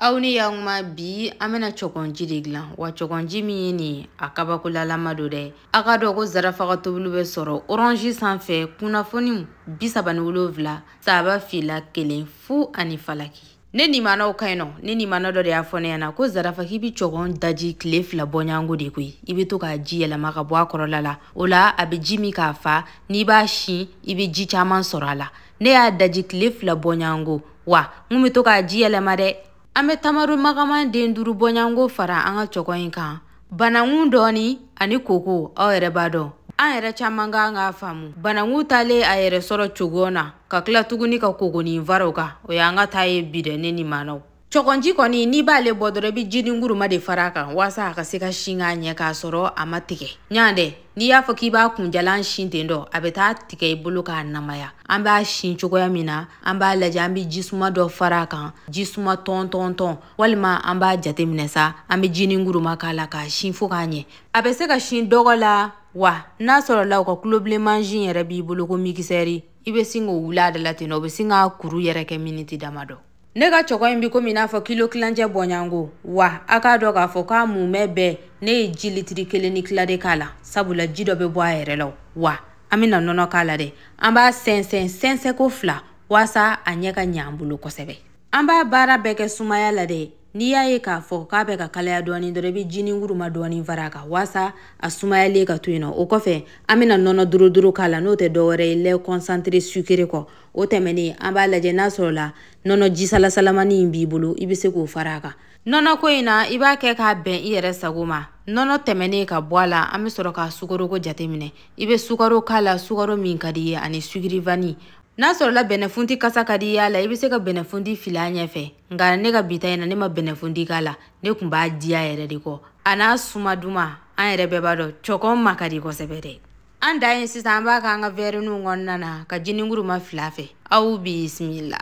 aw ni yankuma bi an bɛna cɔgɔnji de dilan wa cɔgɔnji min ye nin ye a kabakolalama don dɛ a k'a dɔn ko zarafa ka tobili bɛ sɔrɔ oranzi sanfɛ kunnafoni bi saba ni wolonfila saba fila kelen fu ani falaki ne nimanaw ka ɲi nɔ ne nimana dɔ de y'a fɔ ne ɲɛna ko zarafa k'i bi cɔgɔn daji tile fila bɔɲango de koyi i be to k'a ji yɛlɛma ka bɔ a kɔrɔla la o la a be ji min k'a fa n'i b'a sin i be ji caaman sɔrɔ a la ne y'a daji tile fila bɔɲango wa n kun bɛ to k'a ji yɛlɛma dɛ an bɛ tamaro magaman den duuru bɔɲanko fara an ka cɔgɔn in kan banankun dɔɔni ani koko aw yɛrɛ b'a dɔn an yɛrɛ caman kan k'a faamu banankun talen a yɛrɛ sɔrɔ cogo na ka tila tuguni ka kokonin fara o kan o y'an ka ta ye bi dɛ ne nimanaw cɔgɔnji kɔni n'i b'ale bɔ dɔrɔn i bɛ jininguruma de fara a kan waasa a ka se ka sin k'a ɲɛ k'a sɔrɔ a ma tigɛ ɲa dɛ n'i y'a fɔ k'i b'a kunjalan sin ten dɔ a bɛ taa tigɛ i bolo k'a namaya an b'a sin cogoya min na an b'a lajɛ an bɛ jisuma dɔ fara a kan jisuma tɔntɔntɔn walima an b'a jateminɛ sa an bɛ jininguruma k'a la k'a sin fo k'a ɲɛ a bɛ se ka sin dɔgɔ la wa n'a sɔrɔla u ka kulobilen mansin yɛrɛ b'i bolo ko mikisɛri i bɛ sin k'o wuli a da la ten nɔ o bɛ sin k'a kuru yɛrɛ kɛ miniti damadɔ ne ka cɔgɔn in bi komi i n'a fɔ kilo kilancɛ bɔɲango wa a k'a dɔn k'a fɔ k'a mumɛ bɛɛ ne ye ji litiri kelen ni kila de k'a la sabula ji dɔ be bɔ a yɛrɛ la wa an bena nɔnɔ k'a la dɛ an b'a sɛnsɛn sɛnsɛnko fila waasa a ɲɛ ka ɲɛ an bolo kosɛbɛ an b'a baara bɛɛ kɛ sumaya la dɛ n'i y'a ye k'a fɔ k'a bɛ ka kalaya dɔɔni dɔrɔn i bɛ jininguruma dɔɔni fara a kan waasa a sumayalen ka to yen nɔ o kɔfɛ an bɛna nɔnɔ dorodoro k'a la n'o tɛ dɔwɛrɛ ye lait concentré sucré kɔ o tɛmɛnen an b'a lajɛ n'a sɔrɔla nɔnɔ jisalasalamani in b'i bolo i bɛ se k'o fara a kan nɔnɔ ko in na i b'a kɛ k'a bɛn i yɛrɛ sago ma nɔnɔ tɛmɛnen ka bɔ a la an bɛ sɔrɔ ka sukaroko jateminɛ i bɛ sukaro k'a la sukaro min ka di i ye ani sucre vanille n'a sɔrɔla bɛnɛfunti kasa ka di i y'a la i bɛ se ka bɛnɛfunti fili a ɲɛfɛ nka ne ka bi ta in na ne ma bɛnɛfunti k'a la ne tun b'a diya yɛrɛ de kɔ a n'a suma duman an yɛrɛ bɛɛ b'a dɔn cɔkɔn ma ka di kosɛbɛ dɛ an dan ye sisan an b'a k'an ka wɛriniw kɔnɔna na ka jininguruma fili a fɛ aw bisimila